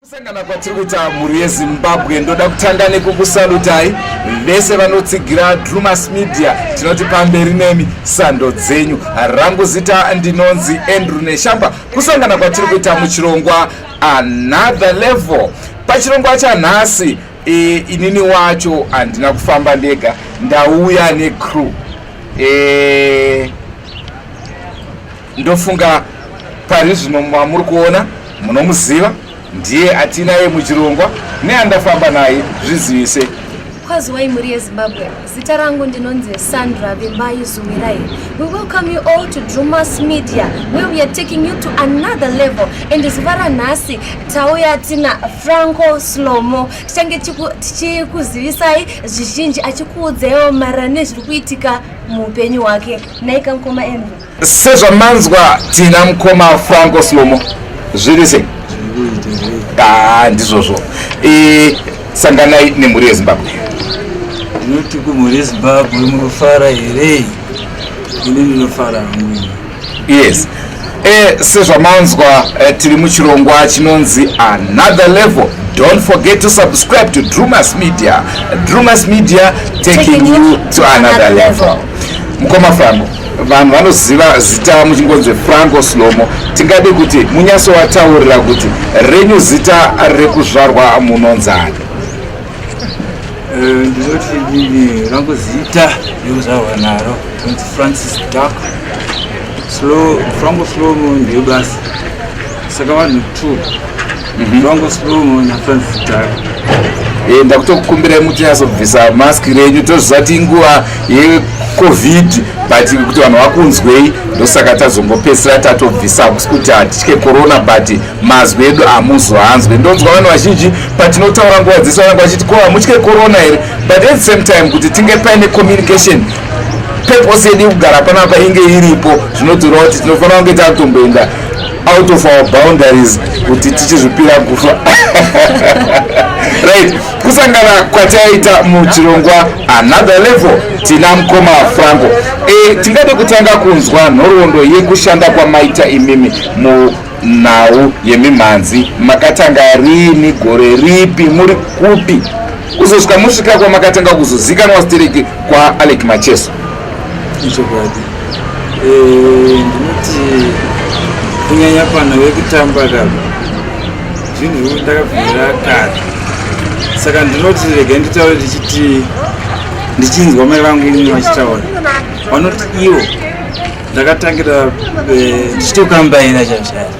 kusangana kwatiri kuita mhuri yezimbabwe ndoda kutanga nekukusalutai vese vanotsigira drumas media tinoti pamberi nemi sando dzenyu rangu zita ndinonzi andrew neshamba kusangana kwatiri kuita muchirongwa another level pachirongwa chanhasi e, inini wacho handina kufamba ndega ndauya necrew e, ndofunga pari zvino mamuri kuona munomuziva ndiye atinaye muchirongwa neandafamba naye zvizivise kwaziwai mhuri yezimbabwe Zita rangu ndinonzi Sandra Vimbai Zumirai. We welcome you all to Drewmas Media where we are taking you to another level and zuva ranhasi tauya tina Franco Slomo tichange tichikuzivisai zvizhinji achikuudzaiwo marira nezviri kuitika muupenyu hwake. Naika mkoma Andrew. sezvamanzwa tina mukoma franco slomo zviri sei ah, ndizvozvo e, sanganai nemhuri yezimbabwe inoti kumhuri yezimbabwe murufara here ini ndinofara hangu yes e, sezvamanzwa e, tiri muchirongwa chinonzi another level don't forget to subscribe to drumas media drumas media taking, taking you to another, another level, level. mukoma franco vanhu vanoziva zita muchingonzi franco slomo tingade kuti munyaso wataurira kuti renyu zita rekuzvarwa munonzani eh, ndinoti rangu zita rekuzvarwa naro inonzi francis dark franco slomo ndiyo basi saka vanhu two Mhm. Ndongo slomo na Francis Tara. Eh ndakutokukumbirai muti asobvisa mask renyu tozvati inguva ye covid but kuti vanhu vakunzwei ndosaka tazongopedzisira tatobvisa hakusi kuti hatitye corona but mazwi edu hamuzoanzwe ndonzwa vanhu vazhinji patinotaura nguva dzese vananga vachiti ko hamutye corona here but at the same time kuti tinge paine communication purpose yedu yekugara panapa inge iripo zvinotorawo kuti tinofanira kunge takutomboenda out of our boundaries kuti tichizvipira kufa right kusangana kwataita muchirongwa another level tina mukoma franco e, tingade kutanga kunzwa nhoroondo yekushanda kwamaita imimi mu nhau yemimhanzi makatanga rini gore ripi muri kupi kuzosvika musvika kwamakatanga kuzozikanwa stereki kwaalek macheso ichokwadi eh, ndinoti kunyanya pano vekutamba kava zvinhu zvekuti ndakabvira kare saka ndinoti rega nditaure ndichiti ndichinzwa mai vangu imwe vachitaura vanoti ivo ndakatangira eh, ndichitokambaira chaizvo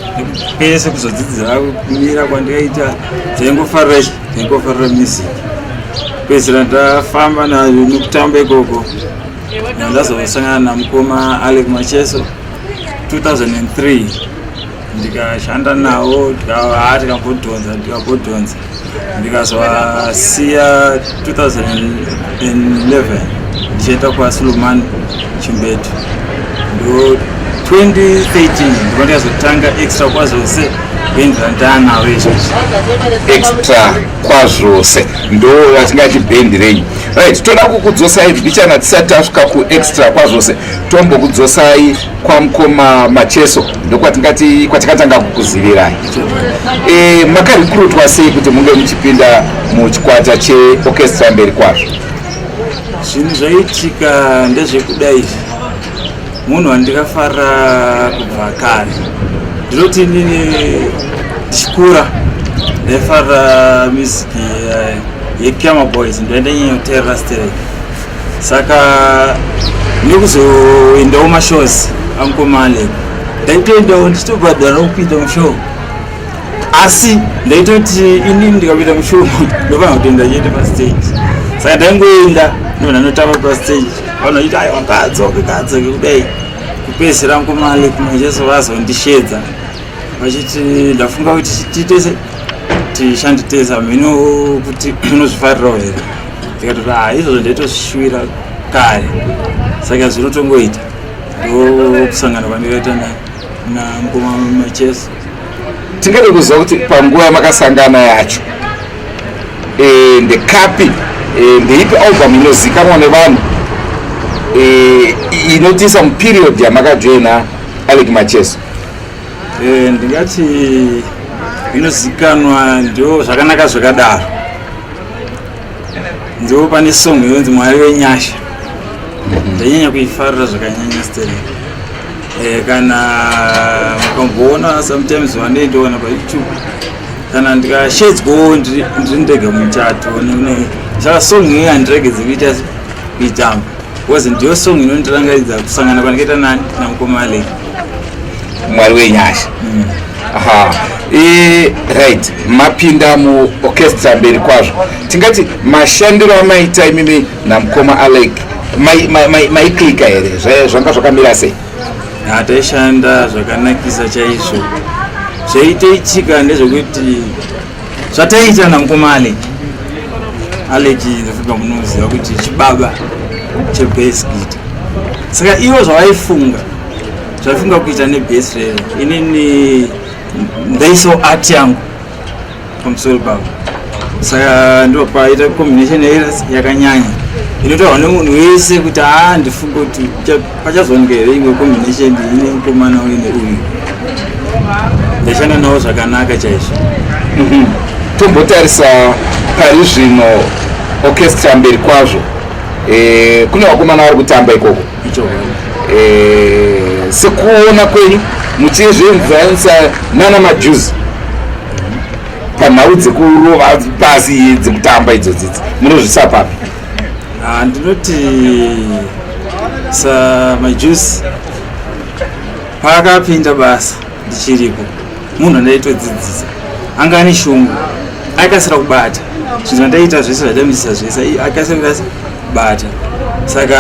pese kuzodzidzira kumira kwandikaita zvaingofarira Nekufarira music. Pedzisira ndafamba nayo nekutamba ikoko. Ndazosangana namukoma Alec Macheso 2003 ndikashanda nawo tikava tikambodhonza tikambodhonza ndikazovasiya 2011 ndichienda kwasulumani chimbetu ndo 2013 ndiko ndikazotanga extra kwazose extra kwazvose ndo vatingati bhendi renyu right toda kukudzosai mbichana tisati tasvika kuextra kwazvose tombokudzosai kwamukoma macheso ndokwatingati kwatikatanga kukuzivirai e, makarikurutwa sei kuti munge muchipinda muchikwata cheorchestra mberi kwazvo zvinhu zvaitika ndezvekudai munhu wandikafara kubva kare ndinoti inini ndichikura ndaifara music eh, yepiama boys ndoenda nyenyoterera sterek saka nekuzoendawo mashows ankomale ndaitoendawo ndichitobhadhara kupinda mushow asi ndaitoti inini ndikapinda mushow ndofana kutoenda chete pastage saka ndaingoenda ndovananotamba pastage vanoita aiwa ngaadzoke ngaadzoke kudai kupedzisira nkomali kumwe jesu vazondishedza vachiti ndafunga kuti titese tishanditesa mhino kuti unozvifarirawo here ndikatoti ha ah, izvozvo ndaitosvishuvira kare saka zvinotongoita ndokusangana kwandikaita namukoma macheso tingade kuziva kuti panguva yamakasangana yacho e, ndekapi e, ndeipi album inozikanwa nevanhu e, inotiisa muperiod yamakajoina alec macheso e, ndingati inozikanwa ndio zvakanaka zvakadaro ndiwo pane song yonzi mwari wenyasha mhm. ndanyanya kuifarira zvakanyanya steri eh, kana mukamboona sometimes vandoindiona payoutube kana ndikashedzwawo ndiri ndega muchato saka song iyi handiregedze kuita kuitamba Because ndiyo song inondirangaridza kusangana kwandakaita nani namukoma Alec. Mwari wenyasha. Mm. Aha. E, right mapinda mu orchestra mberi kwazvo tingati mashandiro amaita imimi namukoma alec maiklika here zvanga zvakamira sei hataishanda zvakanakisa chaizvo zvaiteitika ndezvekuti zvataiitirana mukoma alec alec ndofika munoziva kuti chibaba chebase kuita saka ivo zvavaifunga zvaifunga kuita nebase rero inini ndaiso art yangu pamusoro pavo saka ndo paita combination yakanyanya inotaurwa nemunhu wese kuti haa ndifunga kuti pachazowanika here imwe combination ine mukomana uyu neuyu ndashanda nawo zvakanaka chaizvo mhm. tombotarisa pari zvino orchestra mberi kwazvo eh, kune vakomana vari kutamba ikoko eh, sekuona kwenyu muchizvimvanisa nana majuzi panhau dzekurova pasi dzekutamba idzodzidzi munozvisa papi Ah, ndinoti samajusi paakapinda basa ndichiriko munhu andaitodzidzisa anga ane shungu aikasira kubata zvinhu zvandaita zvese zvaidamisisa zvese akasira kubata saka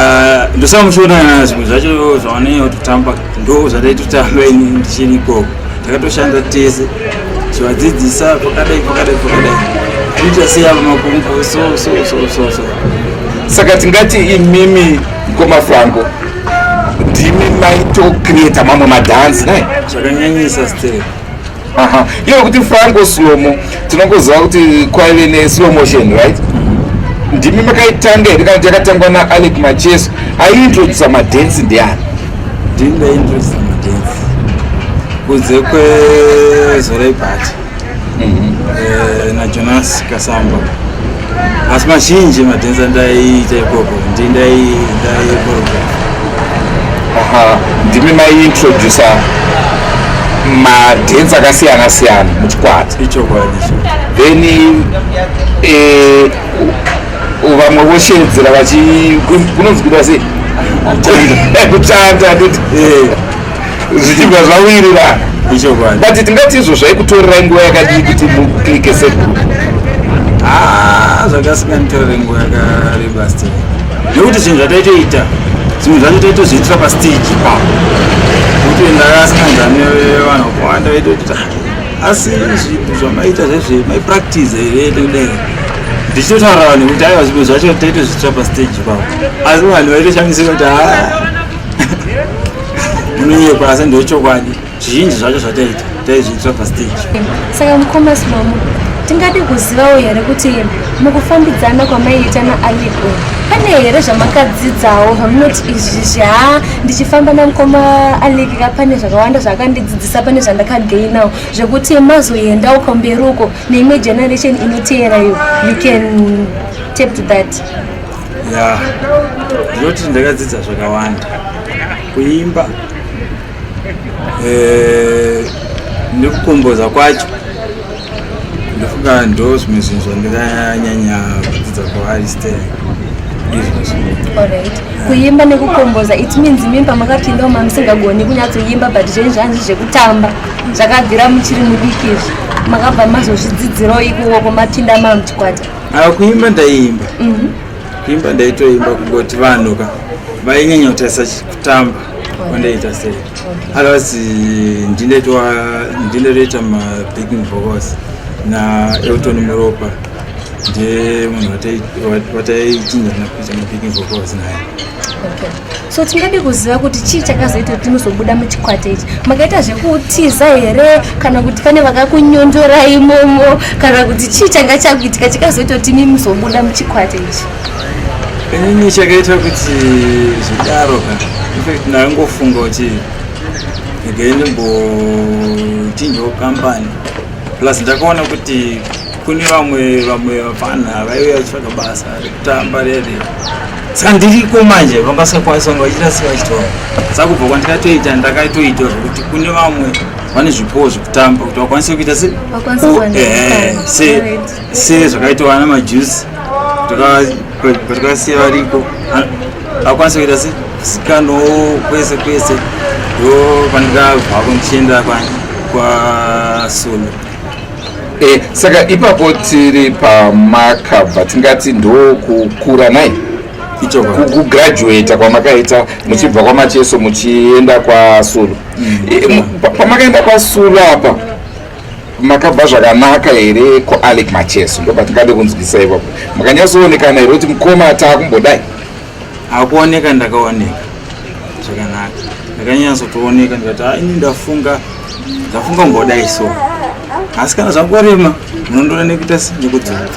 ndosamushona zvimwe zvacho zvaoneyototamba ndo zvandaitotamba ini ndichirikoko takatoshanda tese chivadzidzisa pakadai pakadai pakadai kuita seya makumbo so so so so so saka tingati imimi mkoma franco ndimi maitocreata mamwe madhansi nai zvakanyanyisa stere aha iwe kuti franco slomo tinongoziva kuti kwaive neslow motion right mm-hmm. ndimi makaitanga here kana kuti yakatangwa naalec macheso aiintrodusa madensi ndiani ndini ndaintrodusa madensi kunze kwezorai pati mm-hmm. eh, najonas kasamba asi mazhinji emadhenza ndaiita ikoko ndi ndaikorogea ndimi maiintrodusa madhenzi akasiyana siyana muchikwata ichokwadi then eh, vamwe voshedzera vachi kunonzi kuita sei kutanda eh. zvichibva zvawirirana but tingati izvo zvaikutorerai nguva yakadii kuti muclike segroup ah, zvakasikanditorere nguva yakareba sti nekuti zvinhu zvataitoita zvimwe zvacho taitozviitira pastage pa kuti ndakasikanzani vanhu vakawanda vaitoita asi zvinhu zvamaita zvezve maipractice here nekudai ndichitotaura vanhu kuti aiwa zvimwe zvacho taitozviitira pastage pa asi vanhu vaitoshamisira kuti haa ah, munonyepa asi ndechokwadi zvizhinji zvacho zvataita taizviitira pastage saka mukoma simamu tingade kuzivawo here kuti mukufambidzana kwamaiita naaliko pane here zvamakadzidzawo zvamunoti izvi zhaa ndichifamba namukoma alikika pane zvakawanda zvaakandidzidzisa pane zvandakagainawo zvekuti mazoendawo kwamberi uko neimwe generation inoteerayo you can tape to that ya ndinoti ndakadzidza zvakawanda kuimba eh, nekukomboza kwacho ndofunga ndo zvimwe zvinhu zvandikanyanya kudzidza kuariste kuimba nekukomboza it means imimi pamakapinda uma musingagoni kunyatsoimba but zvenyu zvanzi zvekutamba zvakabvira muchiri mudiki izvi makabva mazozvidzidzirawo ikuoko mapinda mamuchikwata ava kuimba ndaiimba mhm. kuimba ndaitoimba kungoti vanhu ka vainyanya kutarisa kutamba kwandaita sei otherwise ndinetoita mabacking vocals naelton muropa ndiye munhu wataichinjana kuita mabacking vocals naye so tingade kuziva kuti chii chakazoita kuti muzobuda muchikwate ichi makaita zvekutiza here kana kuti pane vakakunyondora imomo kana kuti chii changa chakuitika chakazoita kuti mi muzobuda muchikwate ichi inini chakaita kuti zvidaro ka infact ndaingofunga kuti again mbochinjawo kampani plus ndakaona kuti kune vamwe vamwe vapfanha vaive vachitsvaga basa rekutamba rere saka ndiriko manje vangasakwanisa kunge vachiita sei vachitaura saka kubva kwandikatoita ndakaitoita zvekuti kune vamwe vane zvipowo zvekutamba kuti vakwanise kuita se se zvakaitawa ana majusi patikasiya variko vakwanise kuita se sikano kwese kwese ndo pandikabva kundichienda kwani kwasolo e, saka ipapo tiri pamakabva tingati ndokukura nai kugraduata kwamakaita muchibva kwamacheso muchienda kwasulu mm. e, pamakaenda kwasulu apa makabva zvakanaka here kualec macheso ndopatingade kunzwisa ipapo makanyatsoonekana here kuti mukoma taakumbodai akuoneka ndakaoneka zvakanaka ndakanyatsotooneka ndikati ha ini ndafunga ndafunga mbodai so asi kana zvakorema munondona nekuita nekudzoka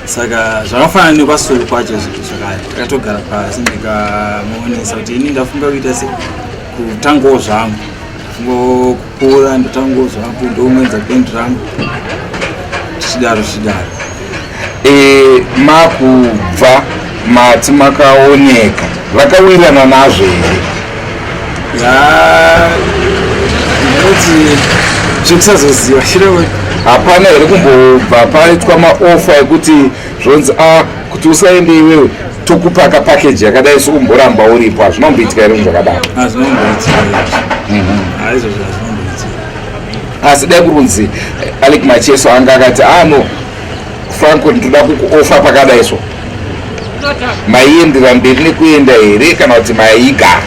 saka zvakafanana nekwasuru kwacho zvinhu zvakare ndakatogara pasi ndikamuonesa kuti ini ndafunga kuita se kutangawo zvangu ngokupora ndatangozwa apo ndounwenza band rangu tichidaro tichidaro e, makubva mati makaoneka vakawirirana nazvo here ya ndinoti zvekusazoziva shireo hapana here kumbobva paitwa maofa ekuti zvonzi a ah, kuti usaende iwewe tokupa ka package yakadai so umboramba uripo hazvina kumboitika here zvakadaro asi dai kurunzi eh, alek macheso anga akati ano ah, franco ndinoda kukuofa pakadai so maiendera mberi nekuenda here kana kuti maigara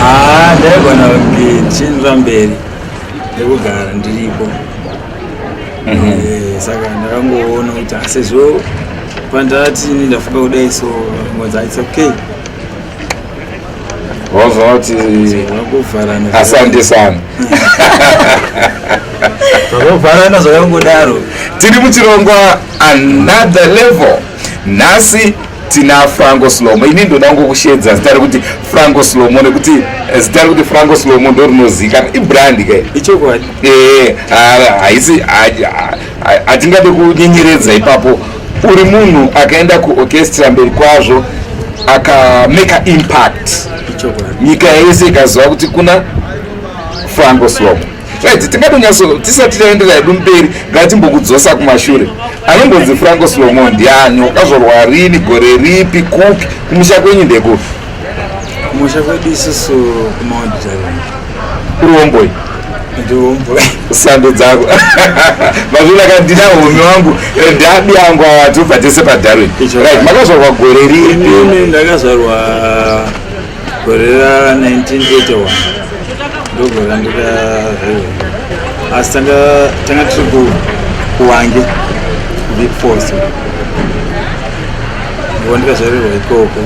ah, ndaigona mberi chinira mberi nekugara ndiripo Eh, saka ndakangoona kuti asezvo pandati ini ndafamba kudai so mwanza its okay wazoona kuti vakuvharana asandisana zvakavharana zvakangodaro tiri muchirongwa another level nhasi tina franco slomo ini ndoda kungokushedza zita rekuti franco slomo nekuti eh, zita rekuti franco slomo ndo rinozikana ibrandi ke ichokwadi ee haisi hatingade kunyenyeredza ipapo uri munhu akaenda kuorchestra mberi kwazvo akamaker impact nyika yese ikaziva kuti kuna franco slomo right tingatonyatso tisati taenderera hedu mberi ngatimbokudzosa kumashure anombonzi franco slomo ndiani wakazvorwa rini gore ripi kupi kumusha kwenyu ndekupi kumusha kwedu isusu kumaonditareni kuri womboi sando dzako mazvino akandina home wangu eh, ndabi angu awatobva tese padarwin right makazvarwa gore ripi ndakazvarwa gore ra 1981 ndogore randikazvaio asi tanga tiri kuwange big force ndova ndikazvarirwa ikoko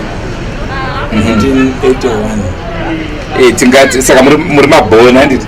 1981 eh, tingati saka muri mabhona handiti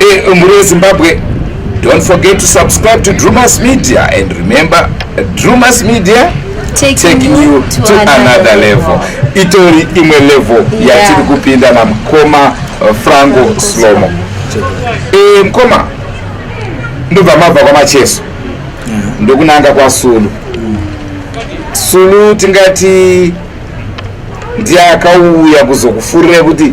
Eh, mhuri yezimbabwe don't forget to subscribe to drewmas media and remember drewmas media taking, taking you to, to another, another level, level. itori imwe level yeah. yatiri kupinda namukoma uh, frango slomo e, mkoma ndobva mabva kwamacheso yeah. ndokunanga kwasulu mm. sulu tingati ndiye akauya kuzokufurira kuti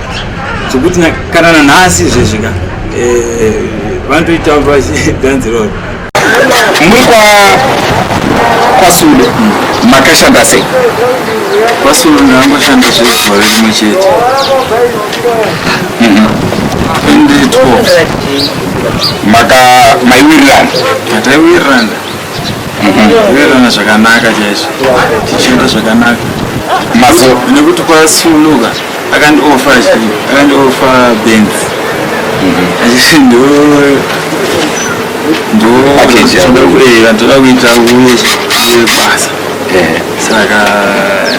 zvekuti kana nanhasi zvezvika eh, vanotoita dhanzi roro muri kwa kwasule makashanda sei kwasule ndangoshanda zvegore rimwe chete mhm. ende 12 maka maiwirirana mataiwirirana kuverana mhm. zvakanaka chaizvo tichienda zvakanaka mazo nekuti kwasuluka akandioffa akandioffa benz achiti ndo ndotoda kuita uye basa saka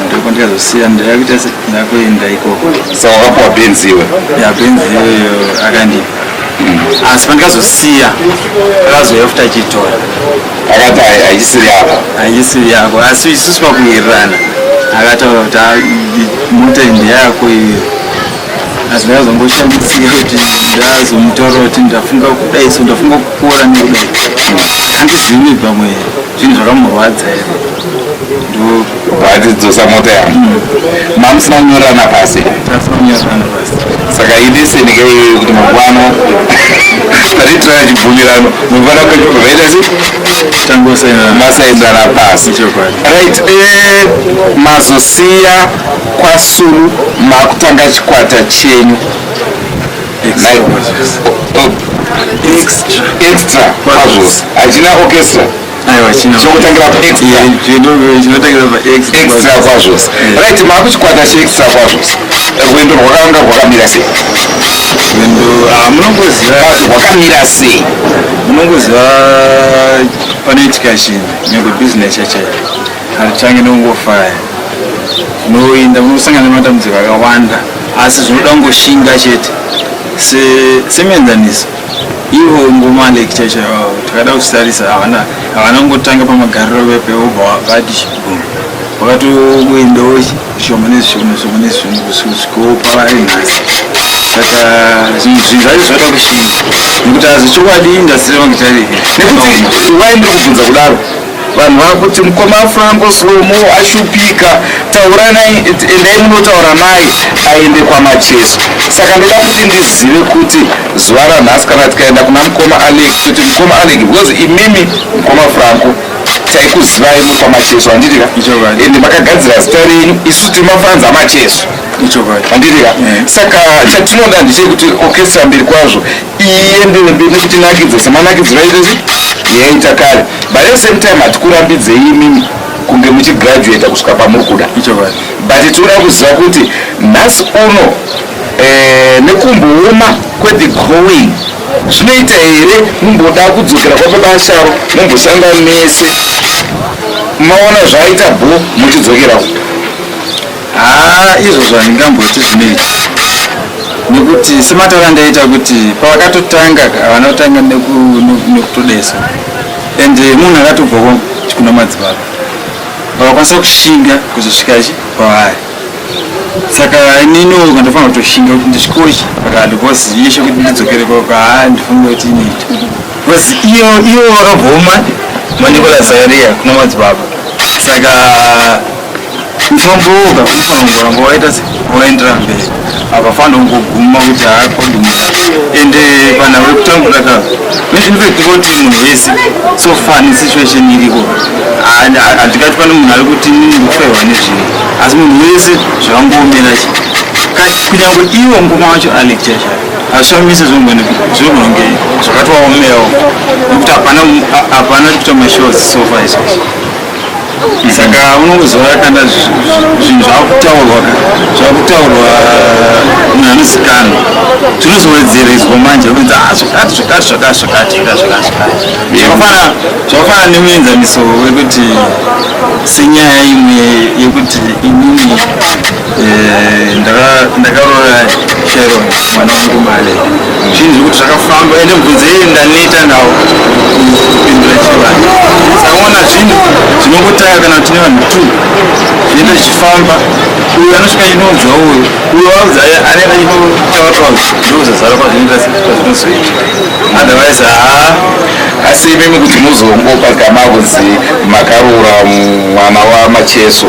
ndiko ndikazosiya ndakuita ndakuenda ikoko saka wakapuwa benzi iwe ya benzi iyoyo akandipa asi pandikazosiya akazoya futi achitora akati haisiri yako haisiri yako asi isusu pakuwirirana akataura kuti ah, mota ndeyako iyo asi ndakazongoshandisika kuti ndazomutora kuti ndafunga kudai so ndafunga kukura nekudai handizivi pamwe zvinhu zvakamurwadza here ndobhatidzosa mota yangu mamusina kunyorerana pasi saka idesenike iyoyo kuti mangwana taritirana chibvumirano mangwana kwaita si masainzana pasi right eh, mazosiya kwasuru makutanga chikwata chenyu extra kwazvose hachina orchestra aiwa chino chokutangira pa extra Yeah, chino- chinotangira pa extra extra kwazvo right makuchikwata chi extra kwazvo rwendo rwakanga rwakamira sei Rwendo, ah, munongoziva kwazi rwakamira sei munongoziva panoitika chinhu nyangwe business chachayo hatichange nongofaya unoinda unosangana nematambudziko akawanda asi zvinoda kungoshinga chete Se- semuenzaniso Ivo ngoma like chaicho yavo takada kusitarisa havana havana kungotanga pamagariro vepe vobva vati chibhungu vakatoendawo zvishoma nezvishoma zvishoma nezvishoma kusvikopa vari nhasi saka zvinhu zvinhu zvacho zvada kushinga nekuti hazvo chokwadi indasiri vangu tarike nekuti wai ndiri kubvunza kudaro vanhu vakuti mukoma franco slomo ashupika tauranai endai munotaura naye aende kwamacheso saka ndoda kuti ndizive kuti zuva ranhasi kana tikaenda kuna mukoma alek kuti mukoma alek because imimi mukoma franco taikuzivai muri kwamacheso handitika ende makagadzira zita renyu isu tiri mafanzi amacheso handitika eh. saka chatinoda ndechekuti okestra mberi kwazvo iye ndiwe ndinotinakidza semanakidziro aitei yaita kare but at same time hatikurambidze imimi kunge muchigraduata kusvika pamuri kuda but tinoda kuziva kuti nhasi uno eh, nekumbooma kwethe growing zvinoita here mumboda kudzokera kwapabasharo mumboshanda mese maona zvaaita bho muchidzokerawo haa izvozvo handingamboti zvinoita nekuti semataura ndaita kuti pavakatotanga havana kutanga nekutodesa and munhu akatobva kuna madzibaba vakakwanisa kushinga kuzosvika chi kwavari saka inini oka ndofanira kutoshinga kuti ndisvikochi pakati bcause yeshe kuti ndidzokere koka haa ndifunga kuti inoita bcause iyo iyo vakabvoma manikola zaria kuna madzibaba saka Unombooga unofanira kuramba waita se waendera mberi hapafana kungoguma kuti haa koduma ende kana uri kutambura ka mezvinifekti kuti munhu wese so far nesituation iriko handikati pane munhu ari kuti nini kufehwa nezvinhu asi munhu wese zvakangoomera chi kunyange iwo ngoma wacho alecture chai hazvishamise zvogona kunge zvakatovaomerawo nekuti hapana hapana kuita mashows so far izvozvo saka unongoziva kana zvinhu zvakutaurwa zvakutaurwa munhu anozikanwa zvinozowedzereswa manje oenza ah, zvakati zvakati zvakati zvakati zvakati zvakafana zvakafana nemuenzaniso wekuti senyaya imwe yekuti inini ndakaroora chero mwana wangu male zvinhu zvekuti zvakafamba ende mubvunzo yei ndaneta nawo kupindura chivanhu takaona zvinhu zvinongotanga kana tine vanhu two zvienda zvichifamba uyo anosvika inonzwa uyo uyo waudza anenge achinotaurwa ndozazara kwazvinoita kwazvinozoita otherwise haa asi imimi kuti muzongopa gama kunzi makaroora mwana wamacheso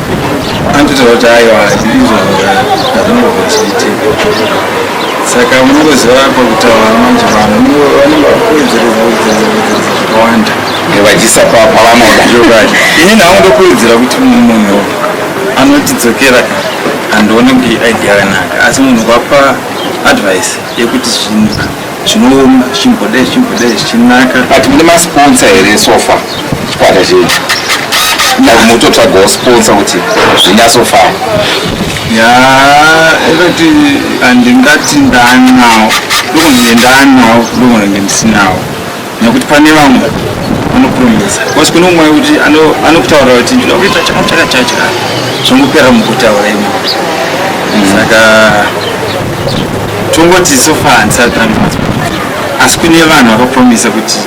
Anditaura kuti aiwa izvo hazvinogofa zvichiitika saka munongoziva pakutaura manje vanhu vanenge vakuwedzerezakuwedzerezakuwedzereza zvakawanda vachisa pavanoda zvokwadi ini nhangu ndokuwedzera kuti munhu anotidzokera ka handione kuti idea yanaka asi munhu kwapa advice yekuti zvinhu zvinooma zvichimboda zvichimboda zvichinaka but mune masponsa here sofa chikwata chenyu mutotsvagawo sponsa kuti zvinyatsofamba ya ekati handingati ndanawo ndokunenge ndanawo ndokunenge ndisinawo nekuti pane vamwe anopromisa bcause kune umwe kuti anokutaura kuti ndinoda kuita chakachaka chachaka zvongopera mukutaura imo mm. saka tongoti sofaa ndisati tandimatswa asi kune vanhu vakapromisa kuti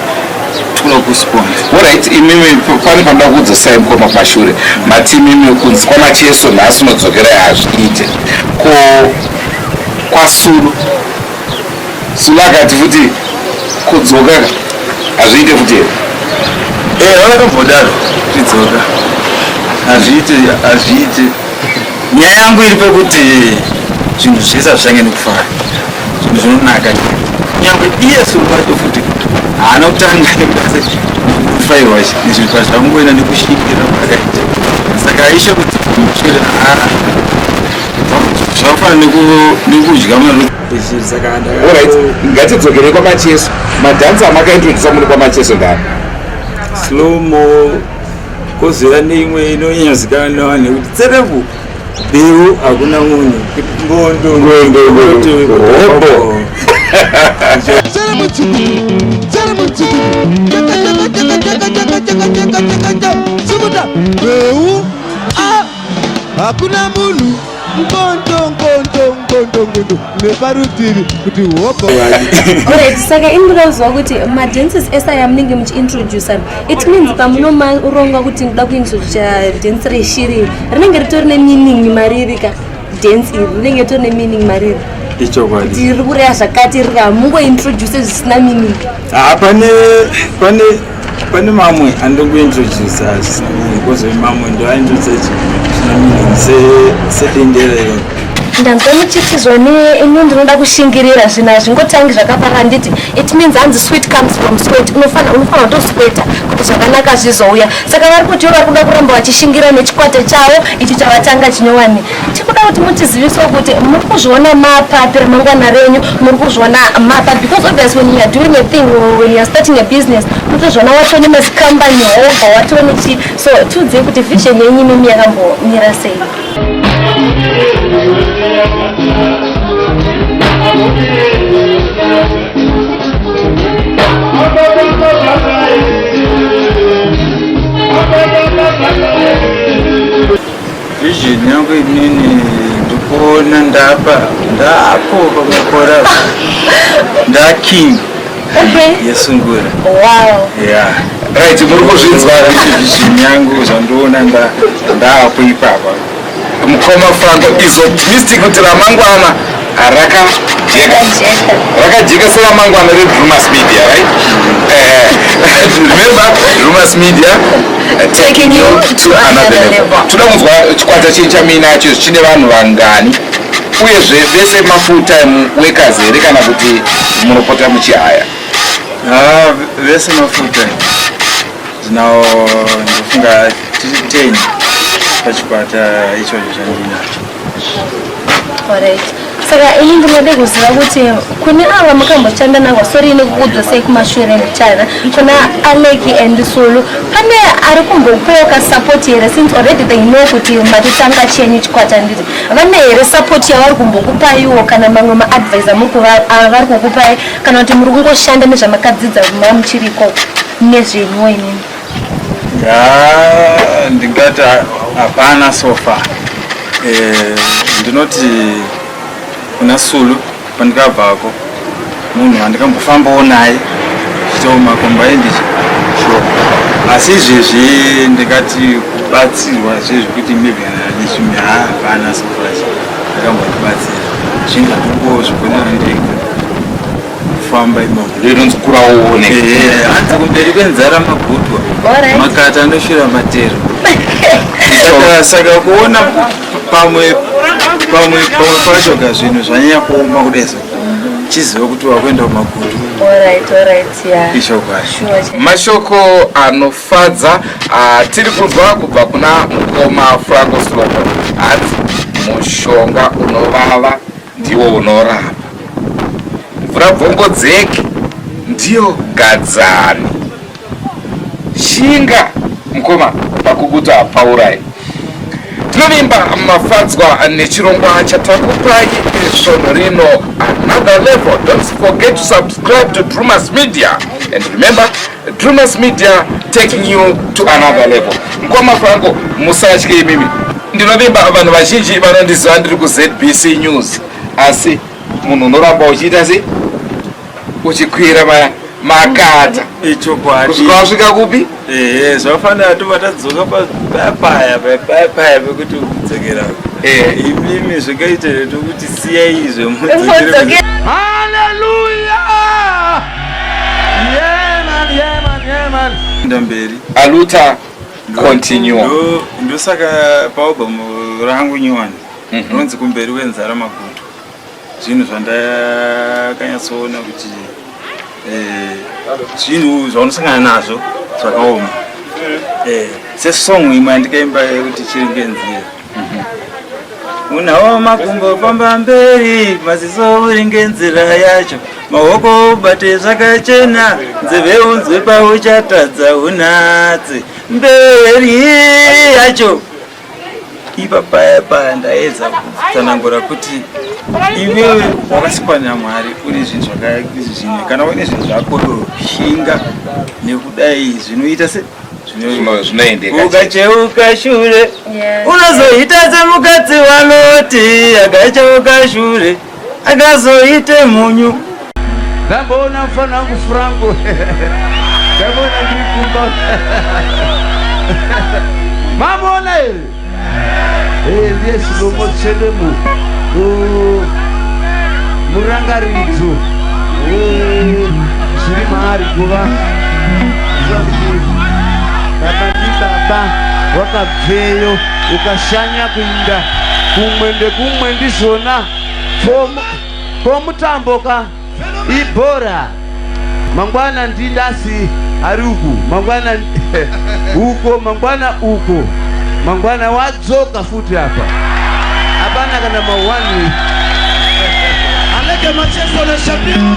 tinoda kusponsa orit imimi pane panoda kuudzosai mukoma kumashure mati imimi kunzi kwamacheso nhasi unodzokerai hazviite ko kwasuru Sula akati futi kudzoka hazviite futi here? Eh, vakatombodaru tidzoka hazviite hazviite. Nyaya yangu iri pekuti zvinhu zvese hazvichange nekufara zvinhu zvinonaka nyangwe iye sulu vacho futi haana kutanga nekutase kufairwa nezvinhu pazvakungoenda nekushingira kwakaita saka aishe kuti mushure haa zvakafanana nekudya mari orit ngatidzokerei kwamacheso madhansi amakaintrodusa muri kwamacheso ndani slomo kozera neimwe inonyanyozikanwa nevanhu nekuti tserevu beu hakuna munhu mbondo mbondo hakuna munhu nkontonkontonkontonkonto neparutivi kuti hobo right saka ini ndikauziva kuti madances ese aya munenge muchiintroducer it means pamunomaronga kuti ndoda kuintroducer dance reshiri rinenge ritori nemeaning mariri ka dance iri rinenge ritori nemeaning mariri ichokwadi tiri kureya zvakati rira mungointroduce zvisina meaning Ah, pane pane pane mamwe andiri kuintroduce asi kozove mamwe ndoaintroduce sedendera iro ndanzwa muchitizwa neini ndinoda kushingirira zvinhu hazvingotangi zvakapara handiti it means hanzi sweet comes from sweat unofanira unofanira kutosweta kuti zvakanaka zvizouya saka vari kuti ivo vari kuda kuramba vachishingira nechikwata chavo ichi chavatanga chinyowani tikuda kuti mutizivisewo kuti muri kuzviona mapapi remangwana renyu muri kuzviona mapa because obvious when youare doing a thing when youare starting a business mutozviona watone mazicompany hobva watone chii so tiudzei kuti vision yenyu imimi yakambomira sei Vision yangu inini ndikuona ndapa ndapo pamakora nda king yesungura. Wow. Yeah. Right, muri kuzvinzwa vision yangu zvandiona ndapo ipapa. Mukoma Franco is optimistic kuti ramangwana Raka jeka. Raka jeka sera mangu anore Drewmas Media, right? Eh, remember Drewmas Media eh, taking you to another level. Tuda kunzwa chikwata chincha mina acho chine vanhu vangani? Uye zve vese ma full time workers here kana kuti munopota muchihaya? Ah, vese ma full time. Now, ndofunga 10 pachikwata ichocho chandinacho. saka ini ndinode kuziva kuti kune ava makamboshanda navo sori ine kukudzo sei kumashure mbichana kuna aleki and sulu pane ari kumbokuoka sapoti here since already they know kuti matotanga chenyu chikwata nditi vane here sapoti yavari kumbokupaiwo kana mamwe maadvisa ah, vari kukupai kana kuti muri kungoshanda nezvamakadzidza mamuchiriko nezvenyu inini Yeah, ndingati hapana so far. Eh, ndinoti kuna Sulu pandikabvako munhu wandikambofambawo naye chitawo makomba endichi sure. Asi izvezvi ndingati kubatsirwa zvezvi kuti maybe nechimwe hapana so far. Ndakambondibatsira. Zvinhu zvatongo zvigonera ndega. famba imomo rinonzi kura uone eh, hanzi kumberi kwenzara magutwa makata anoshira matero saka kuona pamwe pamwe pamwe pacho ka zvinhu zvanyanya kuoma kudeso chiziva kuti wakuenda kumagutu mashoko anofadza ah, tiri kunzwa kubva kuna mukoma franco slobo hanzi mushonga unovava ndiwo unorapa mvura bvongodzeki ndiyo gadzani shinga mukoma pakuguta hapaurai tinovimba mafadzwa nechirongwa chatakupai svondo rino another level don't forget to subscribe to drewmas media and remember Drewmas Media taking you to another level. Mkoma Franco musatye imimi. Ndinovimba vanhu vazhinji vanondiziva ndiri kuZBC News asi munhu unoramba uchiita sei uchikwira vaya makata kusvika wasvika kupi ehe zvafanira tova tadzoka papaya papaya pekuti kudzokera imimi zvakaita tokuti siyai izvo mudzokere haleluya Yeah man, yeah man, yeah man. Ndamberi. Aluta continue. Ndo ndo saka pa album rangu nyowani. Mm -hmm. Ronzi kumberi wenzara magutu. Zvinhu zvandakanyatsoona kuti eh zvinhu zvaunosangana nazvo zvakaoma. Mm. Eh, sesong imwe yandikaimba yekuti chiri ngenzira. unawo makumbo famba mberi maziso uringe nzira yacho maoko ubate zvakachena nzeve unzwe pauchatadza unatse mberi yacho ipa paya paya ndaedza kutsanangura kuti iwewe wakasikwa namwari une zvinhu zvakaizvi zvine kana uine zvinhu zvako shinga nekudai zvinoita se ukacheuka shure unozoita semukadzi vanoti akacheuka shure akazoite munyu ndamboona mfana wangu franco ndamboona ndirikumba mamona here eviye zvinombo tsvene mu murangaridzo zviri maari kuva vakati baba wakabveyo ukashanya kuinda kumwe ndekumwe ndizvona komutambo ka ibhora mangwana ndindasi ari uku mangwana uko mangwana uko mangwana wadzoka futi apa hapana kana mawani anege macheso na shabiro